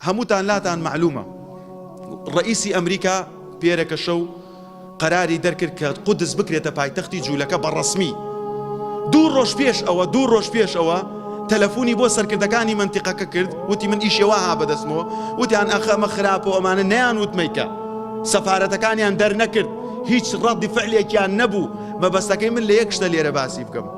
هەمووتان لاتان مەعلومە ڕەئیسی ئەمریکا پێرەکە شەو قەراری دەرکرد کە قودس بکرێتە پایتەختی جولەکە بە ڕەسمی دوو ڕۆژ پێش ئەوە دوو ڕۆژ پێش ئەوە تەلەفونی بۆ سەرکردەکانی منتیقەکە کرد وتی من ئیشێوا ها بەدەستمەوە وتیان ئەخە ئەمە خراپە و ئەمانە نەیان وتمەیکە سەفارەتەکانیان دەرنەکرد هیچ ڕەدی فعلێکیان نەبوو مەبەستەکەی من لە یەک شتە لێرە باسی بکەم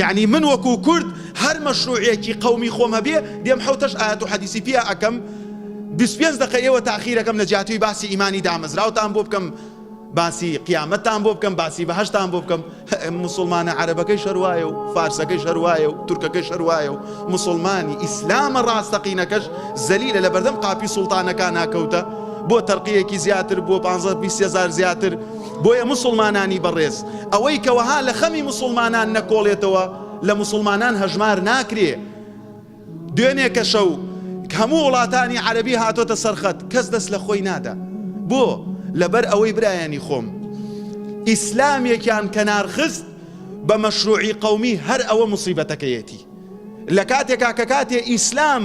یەعنی من وەکو کورد هەر مەشروعێکی قەومی خۆم هەبێ دێم حەوتەش ئایەت و حەدیسی پیا ئەکەم بیست پێنج دەقە ئێوە تاخیرەکەم لە جیاتیی باسی ئیمانی دامەزراوتان بۆ بکەم باسی قیامەتتان بۆ بکەم باسی بەهەشتان بۆ بکەم موسڵمانە عەرەبەکەیش هەر وایە و فارسەکەیش هەر وایە و تورکەکەیش هەر وایە و موسڵمانی ئیسلامە ڕاستەقینەکەش زەلیلە لە بەردەم قاپی سوڵتانەکانا کەوتە بۆ تەرقیەکی زیاتر بۆ پانزە بیست هەزار زیاتر بۆیە موسڵمانانی بەڕێز ئەوەی کە وەها لە خەمی موسڵمانان نەکۆڵێتەوە لە موسڵمانان هەژمار ناکرێ دوێنێ کە شەو هەموو وڵاتانی عەرەبی هاتۆتە سەر خەت کەس دەست لە خۆی نادا بۆ لەبەر ئەوەی برایانی خۆم ئیسلامێکیان کەنار خست بە مەشروعی قەومی هەر ئەوە موسیبەتەکەیەتی لە کاتێکا کە کاتێ ئیسلام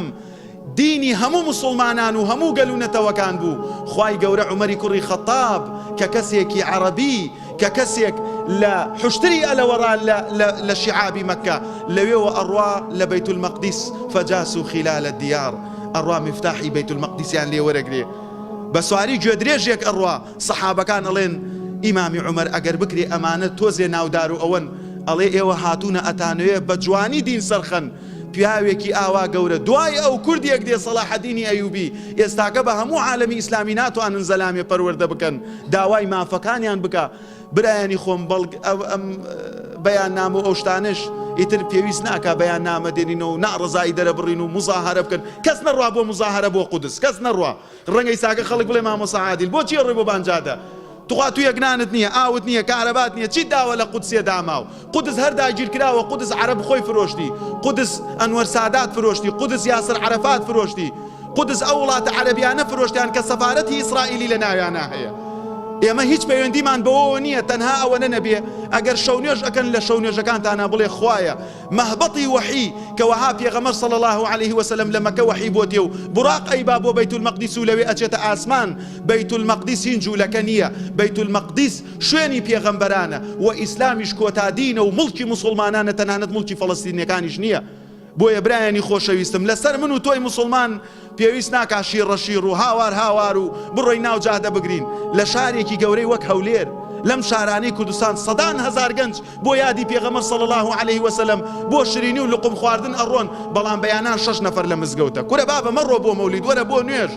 دینی هەموو موسوڵمانان و هەموو گەل و نەتەوەکان بوو، خوای گەورە عومەری کوڕی خەتاب کە کەسێکی عەڕەبی کە کەسێک لە حوشتری ئەلەوەڕا لە لە لە شیعابی مەککە لەوێوە ئەڕوا لە بەیت المەقدیس فجاسو خلال الدیار ئەڕوا میفتاحی بەیت المەقدیسیان لێ وەرەگرێ بە سواری گوێدرێژێک ئەڕوا سەحابەکان ئەڵێن ئیمامی عومەر ئەگەر بکرێ ئەمانە تۆزێ ناودارو ئەوەن ئەڵێ ئێوە هاتوونە ئەتانەوێ بە جوانی دین سەرخەن پیاوێکی ئاوا گەورە دوای ئەو کوردێک دێ سەلاحەدینی ئەیوبی ئێستاکە بە هەموو عالەمی ئیسلامی ناتوانن زەلامێ پەروەردە بکەن داوای مافەکانیان بکا برایانی خۆم بەڵگ ئەم بەیاننامە و ئەو شتانەش ئیتر پێویست ناکا بەیاننامە دێنینەوە و ناڕەزایی دەرەبڕین و موزاهەرە بکەن کەس نەڕا بۆ موزاهەرە بۆ قودس کەس نەڕا ڕەنگە ئیستاکە خەڵک بڵێ مامۆسا عادیل بۆ چیە ڕێ بۆ بانجادە تخوا تویەک نانت نیە ئاوت نیە کارەبات نیە چیت داوە لە قودسێ داماو قودس هەر داگیر کراوە قودس عەرەب خۆی فرۆشتی قودس ئەنوەر سادات فرۆشتی قودس یاسر عەرەفات فرۆشتی قودس ئەو وڵاتە عەرەبیانە فرۆشتیان کە سەفارەتی ئیسرائیلی لە ناویانا هەیە ئێمە هیچ پەیوەندیمان بەوەوە نیە تەنها ئەوەنە نەبێ ئەگەر شەونوێژ ئەکەن لە شەونوێژەکانتانا بڵێ خوایە مەهبەتی وەحی، کە وەها پێغەمبەر صلی اللە علیە وسلم لە مەکە وەحی بۆتێ و بوراق ئەیبا بۆ بەیت المقدس و لەوێ ئەچێتە ئاسمان، بەیت المقدس هین جولەکە نیە، بەیت المقدس شوێنی پێغەمبەرانە، وە ئیسلامیش کۆتا دینە و موڵکی موسوڵمانانە تەنانەت موڵکی فەلەستینیەکانیش نیە، بۆیە برایانی خۆشەویستم لەسەر من و تۆی موسوڵمان، پێویست ناکا شیڕە شیڕ و هاوار هاوار و بڕۆی ناو جادە بگرین، لە شارێکی گەورەی وەک هەولێر، لەم شارانەی کوردستان سەدان هەزار گەنج بۆ یادی پێغەمبەر صلی اللە علیە و سلم بۆ شرینی و لقوم خواردن ئەڕۆن بەڵام بەیانان شەش نەفەر لە مزگەوتە کورە بابە مەڕۆ بۆ مەولید وەرە بۆ نوێژ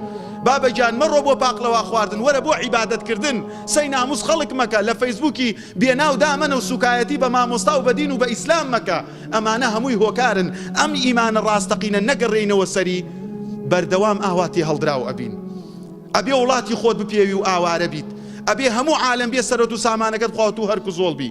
بابە گیان مەڕۆ بۆ پاقلەوا خواردن وەرە بۆ عیبادەت کردن قسەی ناموس خەڵک مەکە لە فەیسبوکی بێناو دامەنە و سوکایەتی بە مامۆستا و بە دین و بە ئیسلام مەکە ئەمانە هەمووی هۆکارن ئەم ئیمانە ڕاستەقینە نەگەڕێینەوە سەری بەردەوام ئاوا تێهەڵدراو ئەبین ئەبێ وڵاتی خۆت بپێوی و ئاوارە بیت ئەبێ هەموو عالەم بێ سەرۆت و سامانەکەت خواوتوو هەرک و زۆڵ بی.